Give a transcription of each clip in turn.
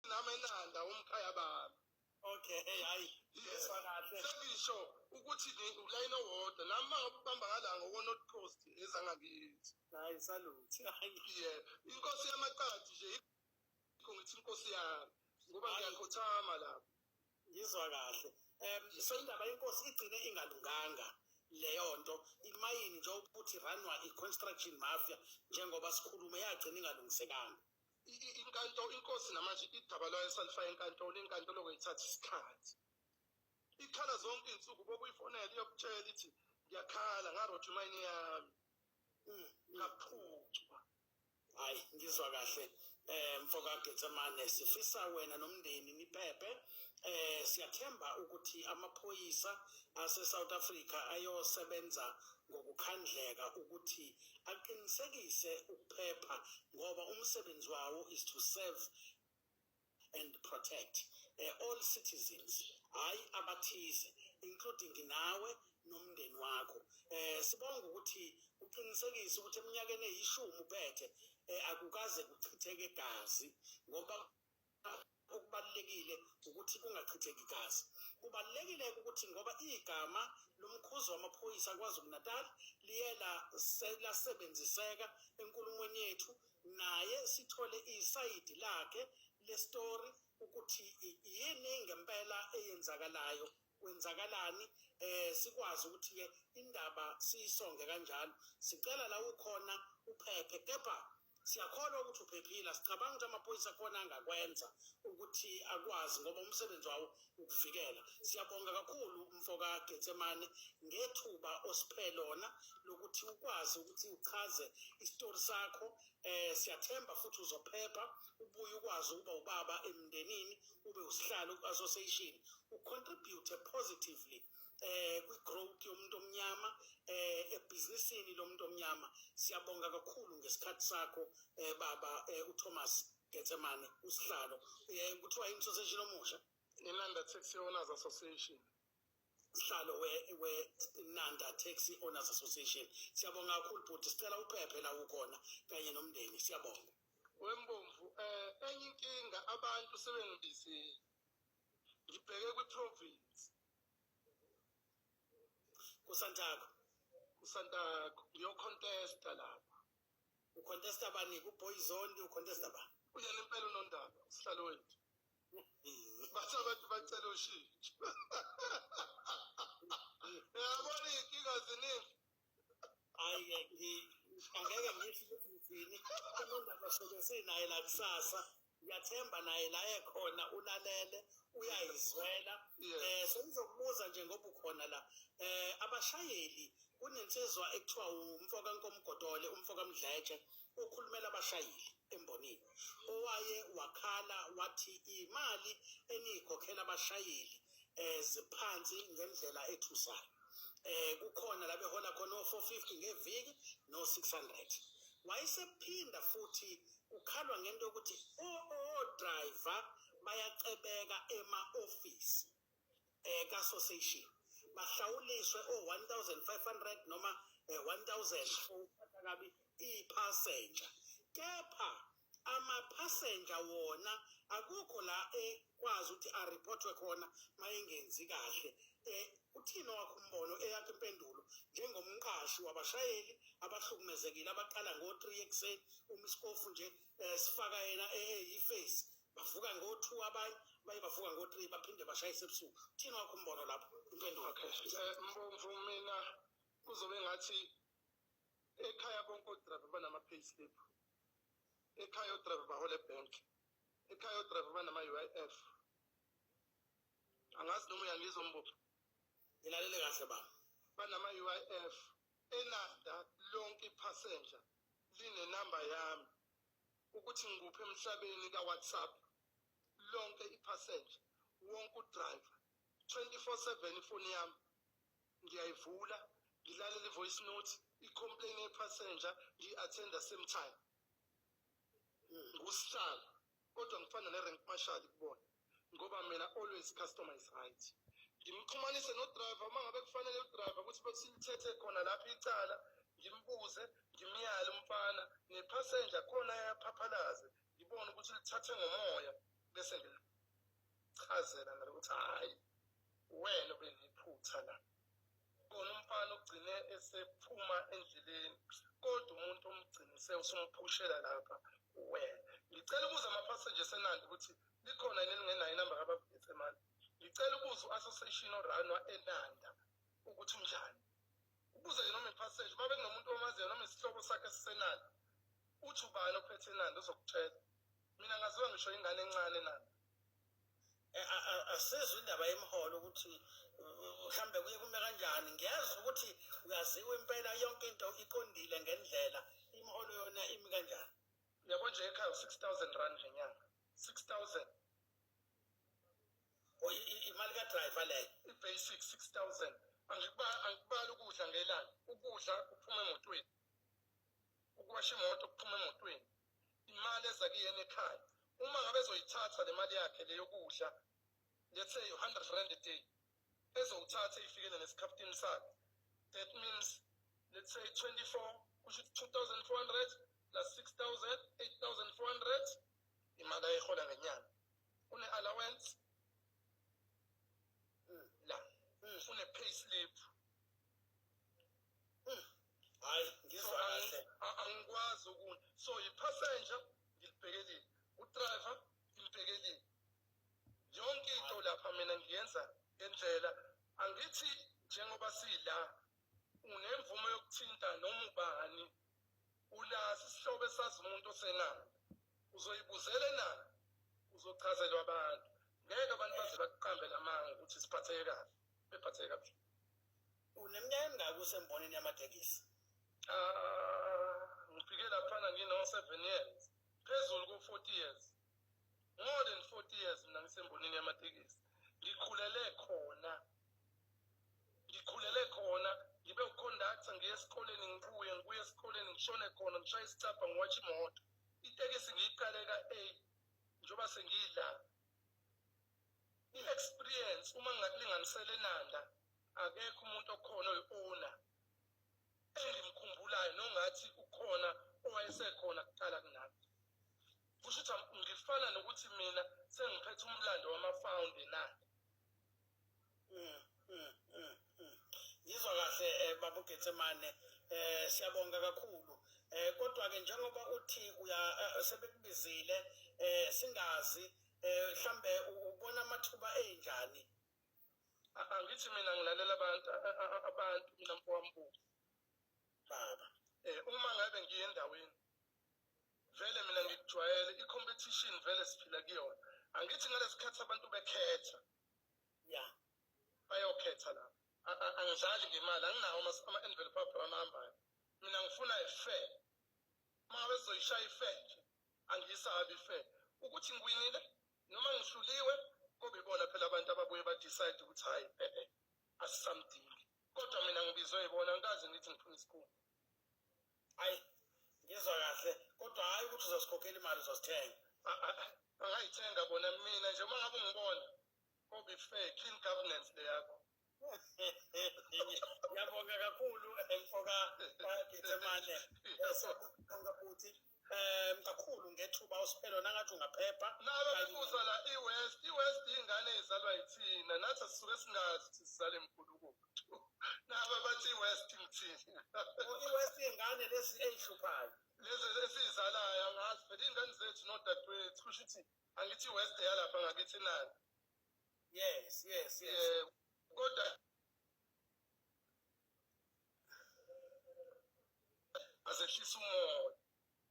nami enanda umkhaya bami okay hayi yeswa kahle sengisho ukuthi ulayini owodwa nami uma ngabe ubamba ngala ngokwe-north coast ezangakithi hayi saluthi ye inkosi yamaqadi nje ikho ngithi inkosi yami ngoba ngiyakhothama lapho ngizwa kahle um so indaba yenkosi igcine ingalunganga leyo nto imayini njengokuthi ranwa i-construction mafia njengoba sikhulume yagcina ingalungisekanga inkantolo inkosi namanje idaba lwayo salifaka enkantolo inkantolo kweyithatha isikhathi ikhala zonke iy'nsuku bokuyifonela iyokutshela ithi ngiyakhala ngarotha imayini yami mm, ngaphucwa hayi ngizwa kahle eh mfoka Getsemane sifisa wena nomndeni niphephe eh siyathemba ukuthi amaphoyisa ase South Africa ayosebenza ngokukhandleka ukuthi aqinisekise ukuphepha ngoba umsebenzi wawo is to serve and protect uh, all citizens hayi abathize including nawe nomndeni wakho eh sibonga ukuthi uqinisekise ukuthi eminyakeni eyishumi uphethe eh akukaze kuchitheke gazi ngoba okubalulekile ukuthi kungachitheki gazi. Kubalulekile ukuthi ngoba igama lomkhuzi wamaphoyisa KwaZulu-Natal liye lasebenziseka enkulumweni yethu, naye sithole isayidi lakhe lestori ukuthi yini ngempela eyenzakalayo kwenzakalani eh sikwazi ukuthi ke indaba siyisonge kanjalo sicela la ukhona uphephe kepha siyakholwa ukuthi uphephile sicabanga ukuthi amaphoyisa akhona angakwenza ukuthi akwazi ngoba umsebenzi wawo ukuvikela siyabonga kakhulu umfoka Getsemane ngethuba osiphe lona lokuthi ukwazi ukuthi uchaze isitori sakho eh siyathemba futhi uzophepha ubuye ukwazi ukuba ubaba emndenini ube usihlalo ku-association ucontribute positively eh kwi-growth yomuntu omnyama eh ebhizinisini lomuntu omnyama siyabonga kakhulu ngesikhathi sakho eh baba eh, uThomas Gethemane usihlalo eh kuthiwa i-association omusha Inanda Taxi Owners Association sihlalo we-nanda taxi owners association siyabonga kakhulu bhuti sicela uphephe la ukhona kanye nomndeni siyabonga wembomvu um eh, enye inkinga abantu sebengibizile ngibheke kwi-province kusantako kusantako ngiyocontesta lapha ucontesta bani kuboyzondi ucontesta ba uyena impela unondaba usihlalo wethu bathi abantu bacela ushintsho yabona iy'nkinga ziningi hhayi angeke ngisho ukuthi ngithini kunendaba soke sinaye la kusasa ngiyathemba naye la ekhona ulalele uyayizwela um sengizokubuza nje ngoba ukhona la um abashayeli kunensizwa ekuthiwa umfo kankomgodole umfo kamdletshe okhulumela abashayeli embonini owaye wakhala wathi imali eniyikhokhela abashayeli eh ziphansi ngendlela ethusayo eh kukhona la behola khona o450 ngeviki no 600 wayesephinda futhi ukhalwa ngento ukuthi o driver bayacebeka ema office eh ka association bahlawuliswe o 1500 noma 1000 eh, ukuphatha kabi ipassenger kepha ama passenger wona akukho la ekwazi ukuthi a reportwe khona mayengenzi kahle eh uthini wakho umbono eyakhe impendulo njengomqashi wabashayeli abahlukumezekile abaqala ngo-3 ekuseni uma isikofu nje um sifaka yena eyiface bavuka ngo-two abanye baye bavuka ngo-three baphinde bashayise ebusuku thina wakho umbono lapho impendulo okay eh, mbomvu mina kuzobe ngathi ekhaya bonke odrayiva banama-pay slip ekhaya odrayiva bahola ebhenk ekhaya odrayiva banama-u i f angazi noma uyangizwa mbopho ngilalele kahle ba banama-u i f elanda lonke ipassenger linenamba yami ukuthi ngikuphi emhlabeni ka-whatsapp lonke iphasenja wonke udriver 24/7 ifoni yami ngiyayivula ngilalela i-voice note i-complain yephasenja ngiyi-athenda same time ngusihlalo kodwa ngifana ne-rank marshal kubona ngoba mina always customer is right ngimxhumanise nodriver uma ngabe kufanele udriver ukuthi besilithethe khona lapho icala ngimbuze ngimyale umfana nephasenja khona yaphaphalaze ngibone ukuthi lithathe ngomoya bese ngilichazela ngale ukuthi hhayi wena beniphutha la khona umfana ugcine esephuma endleleni kodwa umuntu omgcinise usumphushela lapha wena ngicela ukuza amaphasseji esenandi ukuthi likhona yini elingenayo inamba kababhetse mani ngicela ukuza u-association oranwa enanda ukuthi unjani ukuze ke noma iphaseji uma bekunomuntu omaziyo noma isihlobo sakhe sisenanda uthi ubani ophethe enanda uzokutshela mina ngaziwa ngisho ingane encane enanda Eh, asizwe indaba yemiholo ukuthi mhlambe kuye kume kanjani ngiyezwa ukuthi uyaziwa impela yonke into iqondile ngendlela imiholo yona imi kanjani yabo nje ekhaya u-six thousand rand ngenyanga six thousand oh, imali kadrayiva leyo i-basic six thousand angikubali ukudla ngelanga ukudla kuphuma emotweni ukuwasha imoto kuphuma emotweni imali eza kuyena ekhaya uma ngabe ezoyithatha le mali yakhe le yokudla let's say 100 rand a day ezowuthatha ifikele nesikhaphutini sakhe that means let's say 24 kusho 2400 plus 6000 8400 imali ayihola ngenyanga une allowance la une pay slip hayi ngizwa kahle angikwazi ukuna so yipassenger ngilibhekelile udriver ngilibhekelile yonke into lapha mina ngiyenza ngendlela angithi njengoba sila unemvume yokuthinta noma ubani ulazi isihlobo esazi umuntu osenalo uzoyibuzela enalo uzochazelwa abantu ngeke abantu baze bakuqambe lamanga ukuthi siphatheke kahle bephatheke kabuhlungu Uneminyaka emingaki usembonini yamatekisi? Ah, ngifike laphana ngino-seven years phezulu ko-forty years more than forty years mina ngisembonini yamatekisi ngikhulele khona ngikhulele khona ngibe ukhondaktha ngiye esikoleni ngibuye ngibuye esikoleni ngishone khona ngishaye isicabha ngiwatshe imoto itekisi ngiyiqale ka-eight njengoba sengiyidlala i-experience uma ngingakulinganisela enanda akekho umuntu okhona oyi-owner engimkhumbulayo nongathi ukhona owayesekhona kuqala kunami kusho ukuthi ngifana nokuthi mina sengiphethe umlando wamafawundi na mm, mm, mm, mm. ngizwa kahle um eh, baba ugetsemane um siyabonga kakhulu um kodwa-ke njengoba uthi eh, sebekubizile um singazi um mhlawumbe ubona amathuba enjani angithi mina ngilalela abantu abantu mina mfowambuka baba eh uma ngabe ngiye endaweni vele mina ngikujwayele i-competition vele siphila kuyona angithi ngalesikhathi abantu bekhetha ya bayokhetha la angidlali ngemali anginawo ama-envelope abrown ahambayo mina ngifuna ife uma bezoyishaya ife nje angiyisabi ife ukuthi ngiwinile noma ngihluliwe kube ibona phela abantu ababuye badecide ukuthi hhayi e-e asisamdingi kodwa mina ngibizwe yibona ngikaze ngithi ngifuna isikhundla ayi ngizwa kahle kodwa hhayi ukuthi uzosikhokhela imali uzosithenga angayithenga bona mina nje uma ngabe ungibona kobe fair clean governance le yakho ngiyabonga kakhulu mfoka gethemane esonga futhi um kakhulu ngethuba usiphelo nangathi ungaphepha nalo bebuza la i-west i-west ingane izalwa yithina nathi asisuke singazi ukuthi sizale mkhulukutu naba bathi i-west ngithini i-west ingane lezi eyihluphayo lezi esiyizalayo angazi phela iy'ngane zethu nodadewethu kusho ukuthi angithi i-west yalapha ngakithi nani yes yes yes kodwa azehlisa umoya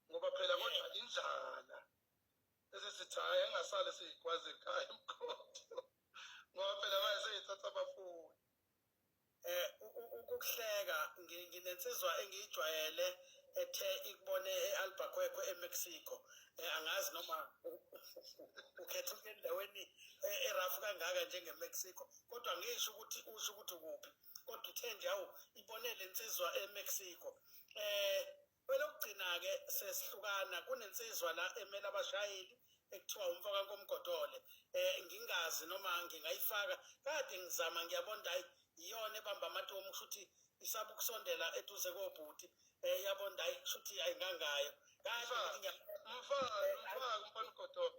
ngoba phela kodwa indlala esisithi hhayi engasale siyikwazi ekhaya emkhondo ngoba phela manje seyithatha abafuni eh ukuhleka nginensizwa engiyijwayele ethe ikubone e-albaqueco emexico eh, angazi noma ukhethuke endaweni eh, erafu kangaka njengemexico kodwa ngisho ukuthi usho ukuthi kuphi kodwa uthe nje awu ibonele insizwa eMexico eh kwelokugcina ke sesihlukana kunensizwa la emela abashayeli ekuthiwa umfaka komgodole eh ngingazi noma ngingayifaka kade ngizama ngiyabona hayi iyona ebamba amatomu kushuthi isaba ukusondela eduze kobhuti eh yabona hayi kushuthi ayingangayo kahle mfaka mfaka mfaka umfana ugodole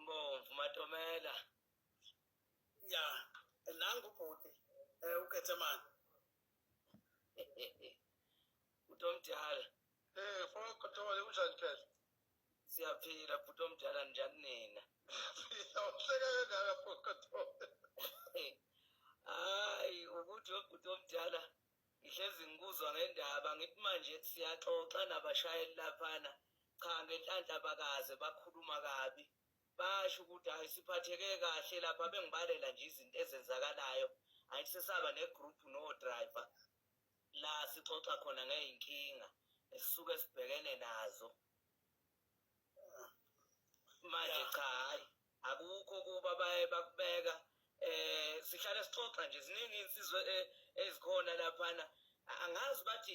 Mbomvu Matomela. Ya, nangu bhuti eh uGetsemane. Utomdala. Eh, fona kuthole unjani phela? Siyaphila bhuti omdala njani nina? Siyaphila, uhleka kangaka fona kuthole. Hayi, ukuthi ubhuti omdala ngihlezi ngikuzwa ngendaba ngithi manje siyaxoxa nabashayeli laphana cha ngenhlanhla bakaze bakhuluma kabi basho ukuthi hayi siphatheke kahle lapha bengibalela nje izinto ezenzakalayo hayi sesaba negroup no driver la sixoxa khona ngeyinkinga esisuke sibhekene nazo manje cha hayi akukho kuba baye bakubeka eh sihlale sixoxa nje ziningi insizwe eh, ezikhona laphana angazi bathi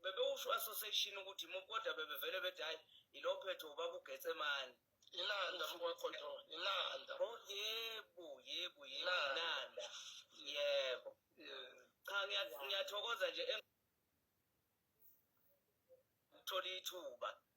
bebewusho association ukuthi kodwa bebevele bethi hayi ilophetho ubaba ugetsemane ilanda mkwaqondo ilanda oh yebo yebo ilanda yebo cha ngiyathokoza nje ngithola ithuba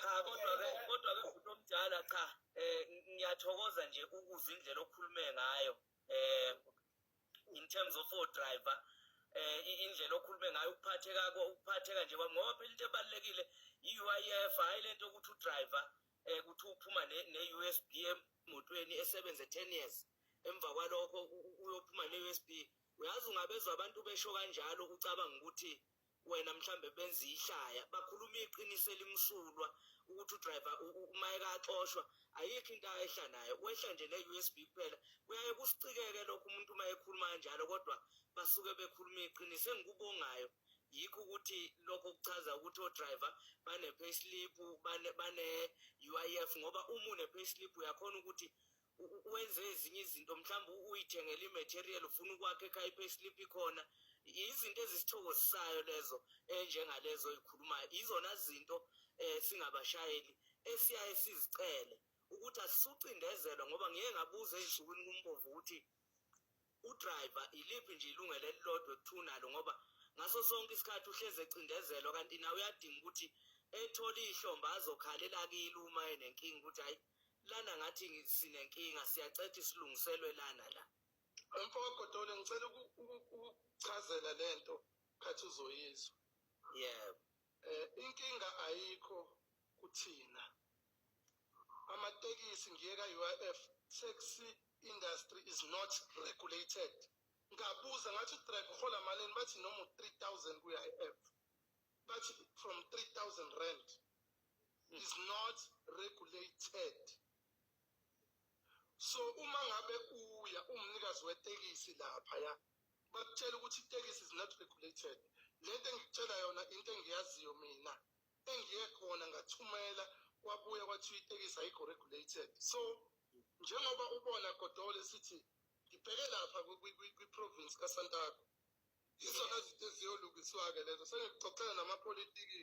cha kodwa ke kodwa ke bhuti omdala cha eh ngiyathokoza nje ukuzwa indlela okhulume ngayo eh in terms of our driver eh indlela okhulume ngayo ukuphatheka ukuphatheka nje kwami ngoba phela into ebalekile i-UIF hayi lento ukuthi udriver eh kuthi uphuma ne-USB emotweni esebenze 10 years emva kwalokho uyophuma ne-USB uyazi ungabezwa abantu besho kanjalo ucabanga ukuthi wena mhlambe benza ihlaya bakhuluma iqiniso elimsulwa ukuthi udriver uma ekaxoshwa ayikho into ayehla nayo wehla nje ne-usb kuphela kuyaye kusicikeke lokho umuntu uma ekhuluma kanjalo kodwa basuke bekhuluma iqiniso engikubongayo yikho ukuthi lokho kuchaza ukuthi odriver bane-payslip bane-uif ngoba uma une-payslip uyakhona ukuthi wenze ezinye izinto mhlawumbe uyithengela imaterial ufuna ukwakha ekhaya ipayslip ikhona izinto ezisithokozisayo lezo enjengalezo oyikhulumayo izona zinto um singabashayeli esiyaye sizicele ukuthi asisucindezelwa ngoba ngiyeke ngabuza ey'nsukwini kumbovu ukuthi udriver iliphi nje ilungelo elilodwa ekuthunalo ngoba ngaso sonke isikhathi uhlezi ecindezelwa kanti nawe uyadinga ukuthi ethole ihlomba azokhalela kile uma enenkinga ukuthi hayi lana ngathi sinenkinga siyacetha isilungiselwe lana la mfoka godole ngicela ukuchazela lento khathi uzoyizwa yebo Eh inkinga ayikho kuthina. Amatekisi ngiye ka UIF taxi industry is not regulated. Ngabuza ngathi driver uhola malini bathi noma 3000 ku UIF. Bathi from 3000 rand is not regulated. So uma ngabe uya umnikazi wetekisi lapha ya bakutshela ukuthi itekisi is not regulated le nto engikutshela yona into engiyaziyo mina engiye khona ngathumela kwabuya kwathiwa itekisi ayikho regulated so njengoba ubona godole sithi ngibheke lapha kwi-province kasantako yizona zinto eziyolungiswa-ke lezo sengikuxoxela namapolitiki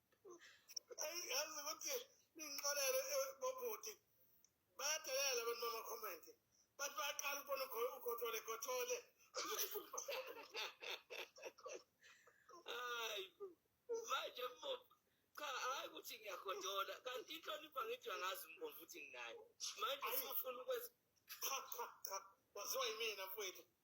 yazi ukuthi ningixolele eh, bobhuti bayadelela abantu bama-comment bathi bayaqala ukubona ugothole gothole hayi manje mbobo cha hayi ukuthi ngiyagodola kanti inhlonipho angithi angazi mbomvu ukuthi nginayo manje sifuna ukwenza cha cha cha waziwa yimina mfowethu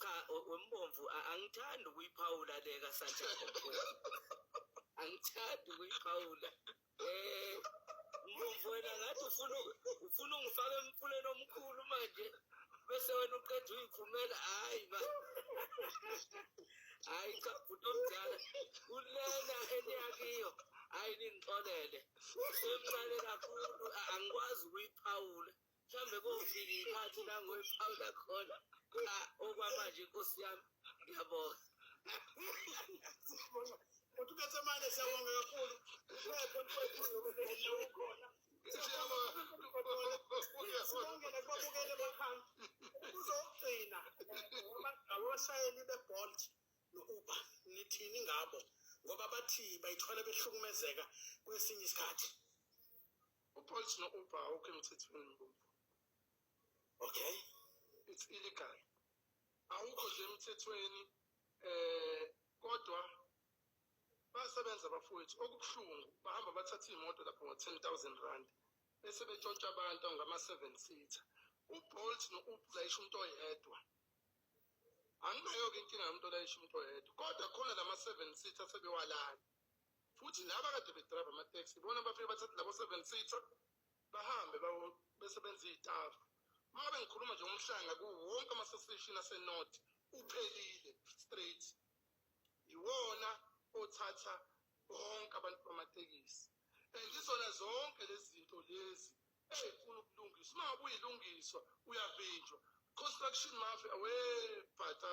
cha wembomvu angithandi ukuyiphawula le kasanjako angithandi ukuyiphawula um mbomvu wena ngathi ufuna ufuna ungifaka emfuleni omkhulu manje bese wena uqeda uyiphumela hhayi ma hhayi cha bhuti omdala kulena eniyakiyo hhayi ningixolele semncane kakhulu angikwazi ukuyiphawula mhlawumbe kofika ikhathi la ngoyiphawula khona cha okwamanje nkosi yami ngiyabonga uthi ubesemane siyabonga kakhulu uphepho ntoekhulu ukhona sibongele kubabukele bakhanga uzogcina abashayeli bebolt no-uber nithini ngabo ngoba bathi bayithola behlukumezeka kwesinye isikhathi ubolt no-uber awukho emthethweni mbuzo okay it's illegal awukho nje emthethweni eh kodwa basebenza bafowethu okubuhlungu bahamba bathatha iy'moto lapho ngo-ten thousand rand bese betshontsha abantu ngama-seven seater ubolt no-ublayisha umuntu oyedwa anginayo-ke inkinga yomuntu olayisha umuntu oyedwa kodwa khona lama-seven seater sebewalala futhi laba kade bedrayiva amateksi ibona bafike bathathe labo seven seater bahambe besebenza iy'tafu uma ngabe ngikhuluma nje ngomhlanga kuwo wonke amasesishini asenorth uphelile straight yiwona othatha bonke abantu bamatekisi and izona zonke lezi zinto lezi ey'funa ukulungiswa uma ngabe uyilungiswa uyavinjwa construction mafia webhatata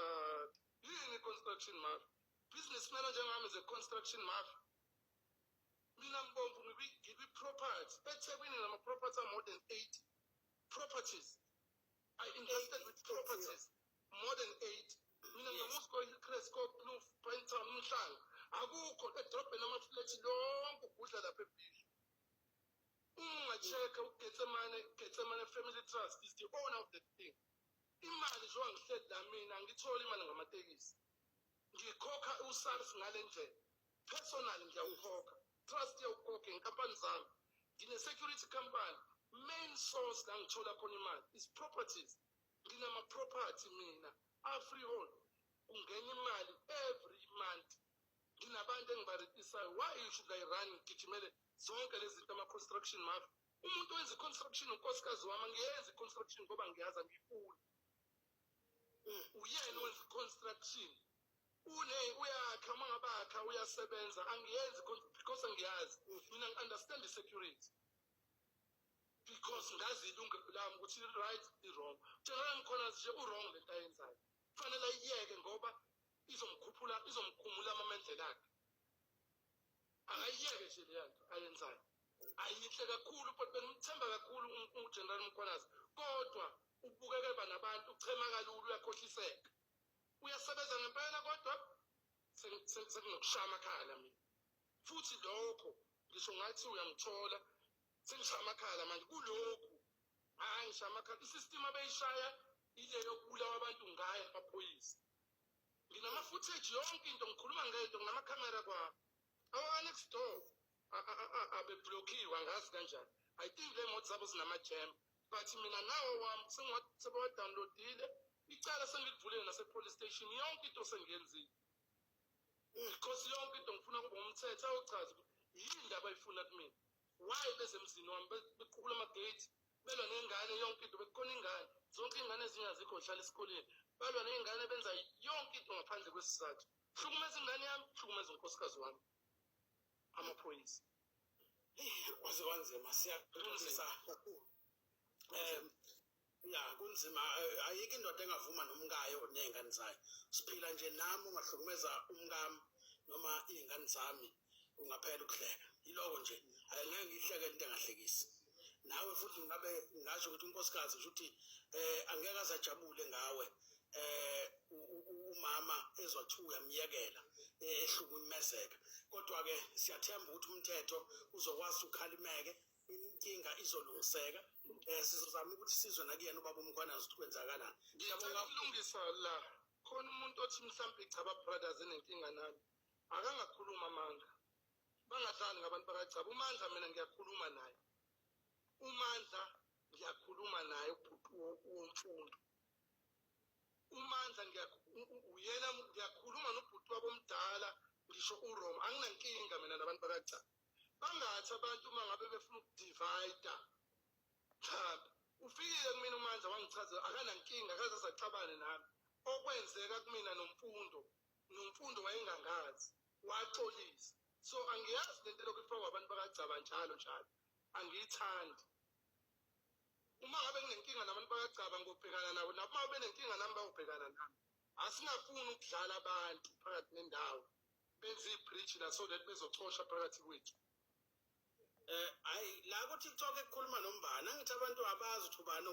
yini construction mafia business melo njengami is a construction mafia mina mbomvu ngibi-property ethekwini ngama-property a-more than eight properties i invested with properties more than eight mina ngiyamusko icresco kloof pinetown umhlanga akukho edrobheni amaflethi lonke ugudla lapha ebhishi ungacheka ugetsemane getsemane family trust is the owner of the thing imali njengoba ngihleli la mina angitholi imali ngamatekisi ngikhokha usars ngale ndlela personal ngiyawukhokha trust yawukhokhe inkampani zami ngine-security company main source la ngithola khona imali is properties nginama-property mina afreehold kungena imali every month nginabantu engibaritisayo why you should i run ngigijimele zonke lezi zinto ama-construction mafi umuntu wenza i-construction unkosikazi wami angiyenzi i-construction ngoba ngiyazi angiyifuni uyena wenza construction une uyakha uma ngabakha uyasebenza angiyenzi because angiyazi mina ngi-understand i-security because ngazi ilungelo lami ukuthi i-right i-wrong njengoba ngikhona nje u-wrong le nto ayenzayo kufanele ayiyeke ngoba izomkhuphula izomkhumula amamendlela akhe akayiyeke nje leya nto ayenzayo ayinhle kakhulu but bengimthemba kakhulu ugeneral mkhwanazi kodwa ubukeke banabantu uchema kalula uyakhohliseka uyasebenza ngempela kodwa senginokushaya amakhala mina futhi lokho ngisho ngathi uyangithola sengishaya amakhala manje kulokhu hayi ngishaya amakhala isystem abeyishaya ile yokubulawa abantu ngayo amaphoyisa nginama-footage yonke into ngikhuluma ngento nginama-camera kwabo awa-next door abeblokiwe angazi kanjani i think le moto zabo zinamajam but mina nawo wami sebawadownloadile icala sengilivulile nasepolice station yonke into sengiyenzile because yonke into ngifuna kube umthetho ayochaza ukuthi yini ndaba ayifuna kumina why bezemzini wami bequkula amagate belwa nengane yonke into bekukhona ingane zonke iy'ngane ezinye azikho zihlala esikoleni balwa ney'ngane benza yonke into ngaphandle kwesizathu hlukumeza ingane yami hlukumeza unkosikazi wami amaphoyisa kwaze kwanzima siyaxolisa kakhulu um ya kunzima eh, ayikho indoda engavuma nomkayo ney'ngane zayo siphila nje nami ungahlukumeza umkami noma iy'ngane zami ungaphela ukuhleka yiloko nje angeke ngihleke into engahlekisi nawe futhi ngabe ngasho ukuthi unkosikazi ukuthi eh angeke azajabule ngawe eh umama ezwa kuthiwa uyamyekela eh, ehlukumezeka kodwa ke siyathemba ukuthi umthetho uzokwazi ukhalimeke inkinga izolungiseka eh sizozama ukuthi sizwe nakuyena ubaba umkhwana zikwenzakalana ngiyabonga ukulungisa la khona umuntu othi mhlawumbe cha ba brothers enenkinga nami akangakhuluma amanga bangadlali ngabantu bakagcaba umandla mina ngiyakhuluma naye umandla ngiyakhuluma naye womfundo umandla uyena ngiyakhuluma nobhuti wabo omdala ngisho uroma anginankinga mina nabantu bakagcaba bangathi abantu uma ngabe befuna ukudivayida mhlawumbe ufikile kumina umandla wangichazela akanankinga akaze saxabane nami okwenzeka kumina nomfundo nomfundo wayengangazi waxolisa so angiyazi lento lokhu ifakwa abantu bakagcaba njalo njalo angiyithandi uma ngabe nginenkinga nabantu bakagcaba ngobhekana nabo nabo uma benenkinga nami bayobhekana nami asingafuni ukudlala abantu phakathi nendawo benze i-bridge la so that bezocosha phakathi kwethu um eh, hayi la kuthi kucoke kukhuluma nombani angithi abantu abazi ukuthi ubani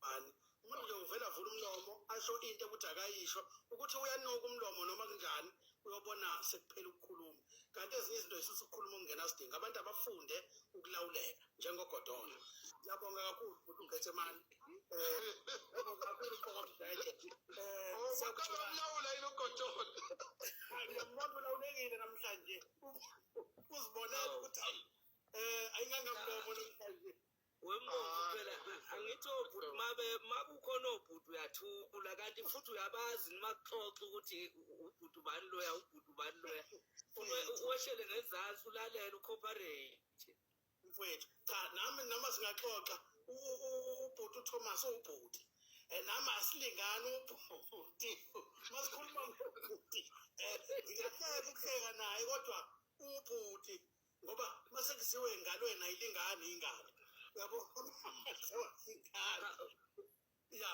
bani umuntu nje uvela vula umlomo asho into ukuthi akayisho ukuthi uyanuka umlomo noma kunjani uyobona sekuphela ukukhuluma kanti ezinye izinto zisusa ukukhuluma okungena sidingo abantu abafunde ukulawuleka njengogodola ngiyabonga kakhulu ukuthi ungithethe mani um eh, ngiyabonga kakhulu uqokomdlete eh, oh, umlawula yini ugodola ngiyamuntu ulawulekile namhlanje uzibonela oh. ukuthi um eh, ayingangamlomo namhlanje wembonzi ah. phela angithi obhuti mabe makukhona obhuti uyathula kanti futhi uyabazi nimakuxoxa ukuthi ubhuti ubani loya ubhuti ubani loya uwehlele ngezansi ulalele ucooperate mfowethu cha nami noma singaxoxa ubhuti uthomas ubhuti eh, nami asilingani ubhuti masikhuluma ngobhuti um eh, ngiyahleka ukuhleka naye kodwa ubhuti ngoba uma sekuziwe engalweni ayilingani ingane yabo ingane ya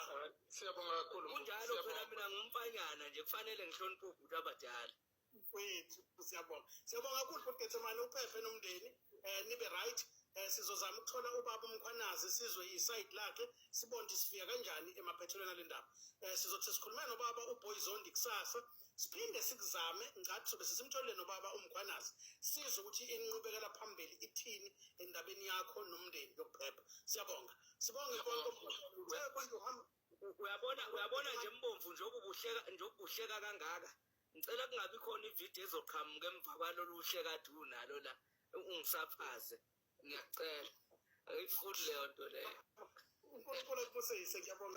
siyabonga kakhulu kunjalo phela mina ngumfanyana nje kufanele ngihloniphe ubhuti abadala mfethu siyabonga siyabonga kakhulu bhuti gethemane uphephe nomndeni um nibe right um sizozama ukuthola ubaba umkhwanazi sizwe isayidi lakhe sibone ukuthi sifika kanjani emaphethelweni ale ndaba um sizothi sikhulumele nobaba uboyizondi kusasa um siphinde sikuzame ngathi sobe sisimtholile nobaba umkhwanazi sizwe ukuthi inqubekela phambili ithini endabeni yakho nomndeni yokuphepha siyabonga sibonge uyabona uyabona nje mbomvu njengokubuhleka njengokubuhleka kangaka ngicela kungabi khona ividiyo ezoqhamuka emva kwalolu hleka du nalo la ungisaphaze ngiyacela ayifuni leyo nto leyo unkulunkulu akubusise ngiyabonga